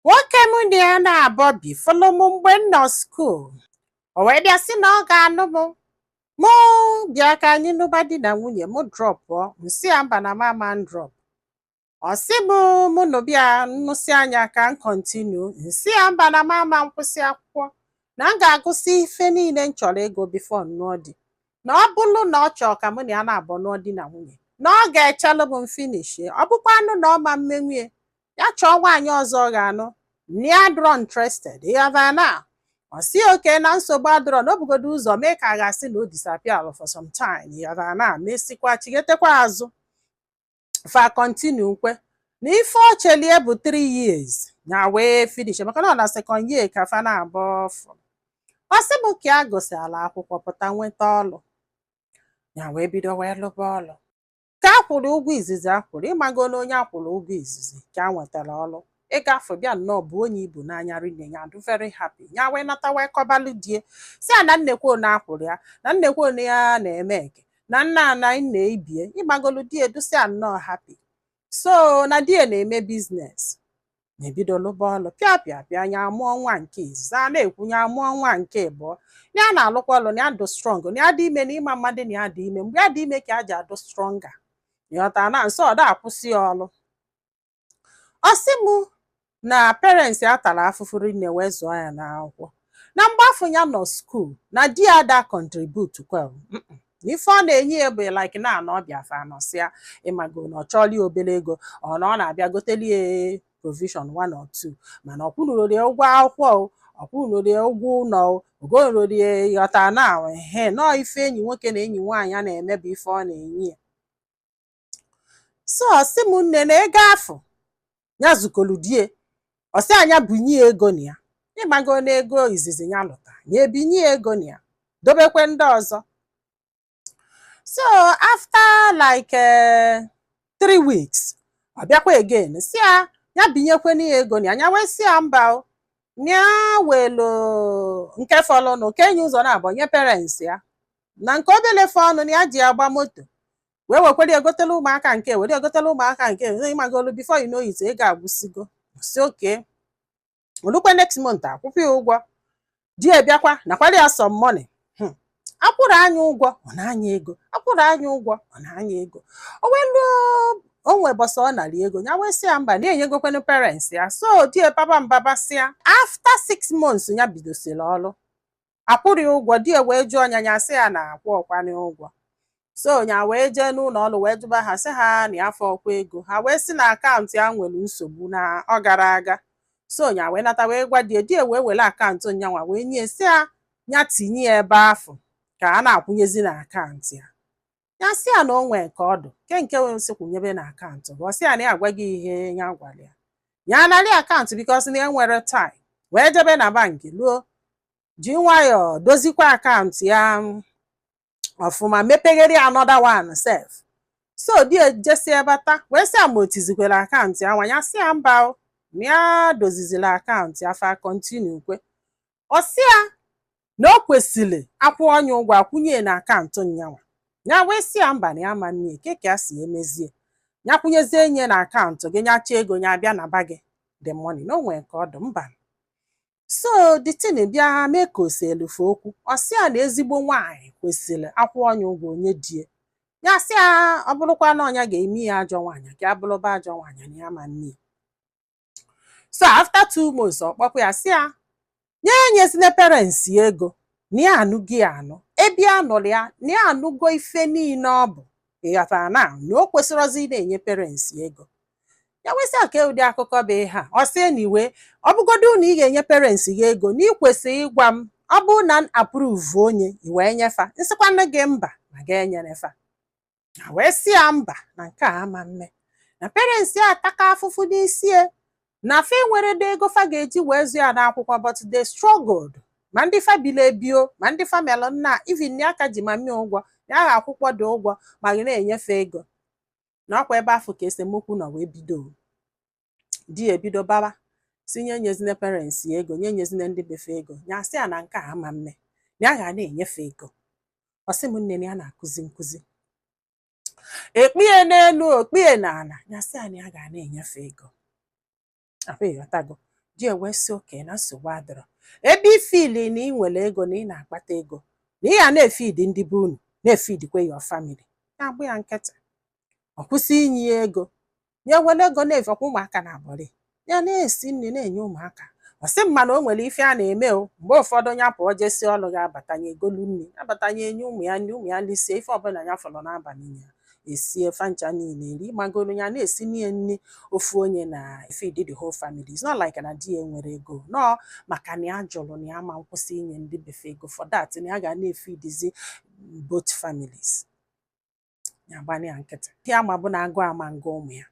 Nwoke mụ na ya naabọ bi fụlụ m mgbe m nọ skuul. O wee bịa sị na ọ ga-anụ m. Mụ bịa ka anyị nụba di na nwunye mụ drọpụọ m sị ya mba na m ama m drọp. Ọ sị m mụ nụba ya m nụsịa nya ka m kọntinu m sị ya mba na m ama m kwụsị akwụkwọ na m ga-agụsị ife niile m chọrọ ịgụ bifo m nụọ di. Na ọ bụrụ na ọ chọọ ka mụ na ya naabọ nụọ di na nwunye na ọ ga-echelu m m finishie. Ọ bụkwanụ na ọ ma mmenwu ya ya chọọ nwaanyị ọzọ ọ ga-anụ na ya adịrọ interested ị ghọta na ọ sị okay na nsogbu adịrọ na o bugodo ụzọ mee ka a ga-asị na o disappear for some time ị ghọta na mesikwa chigetekwa azụ fa continue m kwe na ife o cheli ya bụ 3 years nya wee finish maka na ọ na second year ka fa naabọ fụ ọ sị m ka ya gụsịala akwụkwọ pụta nweta ọlụ ya wee bido wee lụba ọlụ ka a kwụrụ ụgwọ izizi a kwụrụ ị mago na onye a kwụrụ ụgwọ izizi ka ya nwetara ọrụ ego afụ bịa nnọọ buo nya ibu n'anya rinne ya adụ very happy ya wee nata wee kọbalụ di ya sị ya na neekwa na a kwụrụ ya na neekwa na ya na-eme eke na nna ana nna ibe ya ị magolu di ya dụsịa nnọọ happy so na di ya na-eme biznes nya ebido lụba ọlụ pịa pịa pịa nya amụọ nwa nke izizi a na-ekwu nya amụọ nwa nke ịbụọ na ya na-alụkwa ọlụ na ya dụ strọng na ya dị ime na ị ma mmadụ na ya dị ime mgbe ya dị ime ka ya ji adụ stronger ị ghọta na so ọ da akwụsị ya ọlụ ọ sị m na parents ya tara afụfụ rinne wee zụọ ya n'akwụkwọ na mgbe afụ ya nọ skuul na di ya da kọntribut kwa na ife ọ na-enye ya bụ like na anọ ọ bịa fa anọsịa ị mago na ọ chọọlụ ya obele ego ọ na ọ na-abịa goteli ya provision one or two mana ọ kwụnụrori ya ụgwọ akwụkwọ o ọ kwụnụrori ya ụgwọ ụnọ o o gonụrori ya ị ghọta na ehe nnọọ ife enyi nwoke na enyi nwaanyị ya na-eme bụ ife ọ na-enye ya so ọ sị m nne na ego afụ ya zukoru di ya ọ sị ya nya binye ya ego na ya ị mago na ego izizi ya lụta ya ebinye ya ego na ya dobekwe ndị ọzọ so after like eh, three weeks ọ bịakwa again sị ya ya binyekwe na ya ego na ya ya wee sị ya mba o na ya welu nke fọlụnụ kee nya ụzọ naabọ nye parents ya na nke obele fọọnụ na ya ji agba moto wee wekwere gotelu ụmụaka nke a were gotelu ụmụaka nke a ị magolu before you know it ego agwụsigo so okay o lukwe next month a kwụkwa ya ụgwọ di ya bịakwa nakwara ya some money Hmm. a kwụrụ nya ụgwọ ọ naa nya ego a kwụrụ nya ụgwọ ọ naa nya ego o wee ruo o nwe ụbọsị ọ nara ego ya wee sị ya mba na ya enyegokwanụ parents ya so di ya baba mba ba sị ya after six months ya bidosiri ọrụ akwụrọ ya ụgwọ di ya wee jụọ nya nya sị ya na akwụrọkwa nya ụgwọ so nya wee jee n'ụlọ ọrụ wee jụba ha sị ha na afụrọkwa ego ha wee sị na akaụntụ ya nwere nsogbu na ọ garọ aga so nya wee nata wee gwa die die wee were akaụntụ nyanwa wee nye sị ya nya tinye ya ebe afụ ka a na-akwụnyezi na akaụntụ ya ya sị ya na o nwee ka ọ dụ nke nke wee sị kwụnyebe na akaụntụ gị ọ sị ya na ya agwago ya ihe ya gwara ya ya anarị akaụntụ because na enwere time wee jebe na bankị luo ji nwayọọ dozikwa akaụntụ ya ọfụma mepeghere ya another one sef so die jesie bata wee sị ya ma o tizikwara akaụntụ yanwa ya sị ya mba o, na ya dozizila akaụntụ ya fa continue kwe ọ sị ya na o kwesịrị akwụọ nya ụgwọ akwụnye na akaụntụ nyanwa ya wee sị ya mba na ya ma nnye kee ka ya si emezie ya kwụnyezie nya na akaụntụ gị nya chọọ ego ya bịa naba gị the money na o nwere ka ọ dụ mba so the thing bịa mee ka o selu fa okwu ọ sị ya na ezigbo nwaanyị kwesịrị akwụọ nya ụgwọ o nye die ya sị ya ọ bụrụkwa na ọ nya ga-eme ya ajọ nwaanyị ka ya bụrụba ajọ nwaanyị na ya ma nnye so after two months ọ kpọkwa ya sị ya nya enyezina parents ya ego na ya anụgo ya anụ ebe ya nụrụ ya na ya anụgo ife niile ọ bụ ịghọtara na na o kwesịrọzi ị na-enye parents ya ego ya wee sị ya kee ụdị akụkọ bụ ihe a ọ sị na iwe ọ bụgodu na ị ga-enye parents gị ego na ị kwesịrị ịgwa m ọ bụrụ na m approve o nya i wee nye fa m sịkwanụ gị mba ma ga enyere fa nya wee sị ya mba na nke a ama mme na parents ya ataka afụfụ n'isi ya na fa enwerọdị ego fa ga-eji wee zụ ya n'akwụkwọ but they struggled ma ndị fa bili ebi o ma ndị fa melụ na even ya ka ji mummy ya ụgwọ ya agha akwụkwadị ụgwọ ma ga na-enye fa ego na ọkwa ebe afụ ka esemokwu nọ wee bido di ya ebido baba sị nya enyezina parents ya ego nya enyezina ndị be fa ego ya sị ya na nke a ama mme na ya ga na-enye fa ego ọ sị m nne na ya na-akụzi nkụzi o kpie n'elu o kpie n'ala ya sị ya na ya ga na-enye fa ego ahụ ịghọtago di ya wee sị okay na nsogbu adịrọ ebe ị feel na ị nwere ego na ị na-akpata ego na ị ya na-efidi ndị be unu na-efidikwa your family nya agba ya nkịtị ọ kwụsị inye ya ego ya were ego na-efekwa ụmụaka na-abụrị ya na-esi nri na-enye ụmụaka ọ sị m mana o nwere ife ya na-eme o mgbe ụfọdụ ya pụọ jesi ọrụ ya abata nya egolu nri abata nya enye ụmụ ya nri ụmụ ya lisie ife ọbụla ya fọrọ n'abalị ya esie fa ncha niile eri magoro ya na-esinye nri ofu onye na feed the whole family it's not like na di ya enwerọ ego no maka na ya jụrụ na ya ma nkwụsị inye ndị be fa ego for that na ya ga na-efidizi both families ya agba nya nkịtị ihe a ma bụ na agụụ ama ngụ ụmụ ya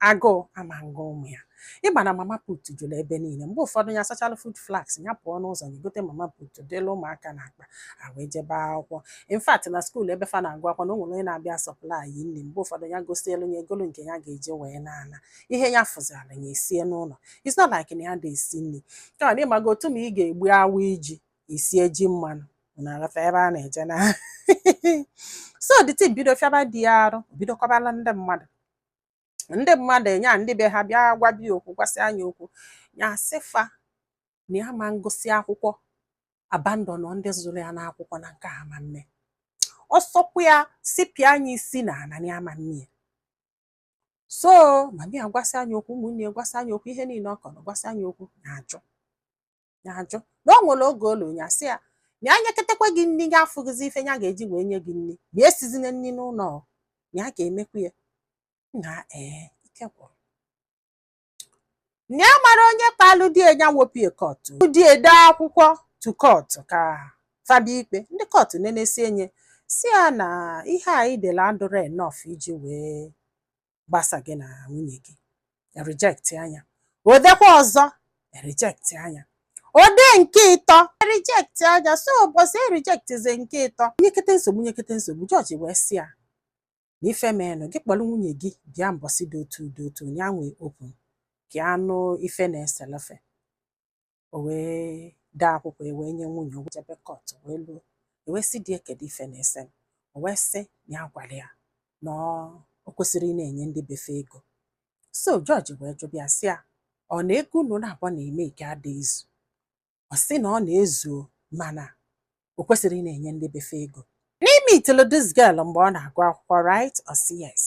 agụụ ama ngụ ụmụ ya ị ma na mama put jụrụ ebe niile mgbe ụfọdụ ya sachala food flask ya pụọ n'ụzọ ya gote mama put dịla ụmụaka na akpa a wee jebe akwụkwọ in fact na skuul ebe fa na-agụ akwụkwọ na o nwere onye na-abịa supply nri mgbe ụfọdụ ya gosielu ya egolu nke ya ga-eji wee na-ana ihe ya fụziala ya esie n'ụlọ it's not like na ya ada esi nri kama na ị mago otu ma ị ga-egbu awaị ji i sie ji mmanụ unu aghọta ebe a na-eje na so the thing bido fịaba di ya arụ bido kọbala ndị mmadụ ndị mmadụ nya ndị be ha bịa gwaba ya okwu gwasịa nya okwu ya asị fa na ya ama ngụsị akwụkwọ abandon ndị zụrụ ya n'akwụkwọ na nke a ama mme ọsọkwa ya sipịa nya isi n'ana ya ama mme so mama ya gwasịa nya okwu ụmụnne ya gwasịa nya okwu ihe niile ọ kọrọ gwasịa nya okwu ya ajụ ya ajụ na o nwere oge o lu ya sị ya na ya nyeketekwa gị nri ya afụghịzi ife ya ga-eji wee nye gị nri ya esizina nri n'ụlọ ọ, ya ga-emekwa ya na ee ike gwụrụ na ya mara onye kpalụ di ya ya wopie kọtụ di ya edee akwụkwọ to kọtụ ka fa bịa ikpe ndị kọtụ nenesịa anya sị ya na ihe a i dele adịrọ enough iji wee gbasa gị na nwunye gị e rejectia nya o dekwa ọzọ e rejectia nya o dee nke ịtọ e rejectia nya so ụbọchị e rejectzi nke ịtọ nyekete nsogbu nyekete nsogbu jọji wee sị ya na ife mee nụ gị kpọrọ nwunye gị bịa mbọsị dị otu dị otu ya nwee open ka a nụ ife na-esele fe o wee dee akwụkwọ e wee nye nwunye o jebe kọt wee luo e wee sị di e kedu ife na-ese m o wee sị na ya gwara ya na o kwesịrị ịna-enye ndị be fe ego so jọji wee jụba ya sị ya ọ na ego unu naabọ na-emake ada ezu ọ sị na ọ na-ezuo mana o kwesịrị ịna-enye ndị be fe ego na i meetili this girl mgbe ọ na-agụ akwụkwọ right ọ sị yes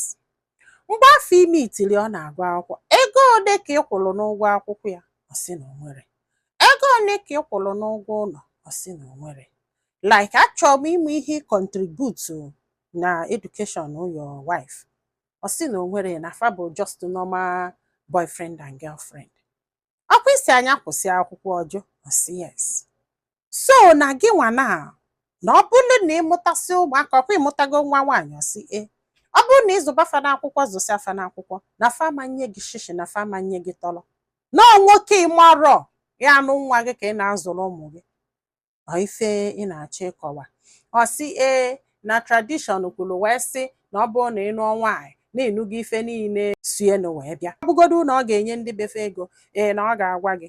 mgbe afụ i meetili ọ na-agụ akwụkwọ ego ole ka ị kwụrụ n'ụgwọ akwụkwọ ya ọ sị na o nwerọ ego ole ka ị kwụrụ n'ụgwọ ụlọ ọ sị na o nwerọ like achọrọ m ịma ihe i kọntributu na education your wife ọ sị na o nwerọ na fa bụ just normal boyfriend and girlfriend ọkwa ị sịa nya kwụsị akwụkwọ ọ jụ ọ sị yes so na gị nwa na na ọ bụrụ na ị mụtasịa ụmụaka ọkwa ị mụtago nwa nwaanyị ọ sị ee ọ bụrụ na ị zụba fa n'akwụkwọ zụsịa fa n'akwụkwọ na fa ama nye gị shishi na fa ama nye gị tọrọ na nwoke ị marọ ya-anụ nwa gị ka ị na-azụrụ ụmụ gị ọ ife ị na-achọ ịkọwa ọ sị ee na tradition kwuru wee sị na ọ bụrụ na ị nụọ nwaanyị na ị nụgo ife niile sienụ wee bịa ọ bụgodu na ọ ga-enye ndị be fe ego ee na ọ ga-agwa gị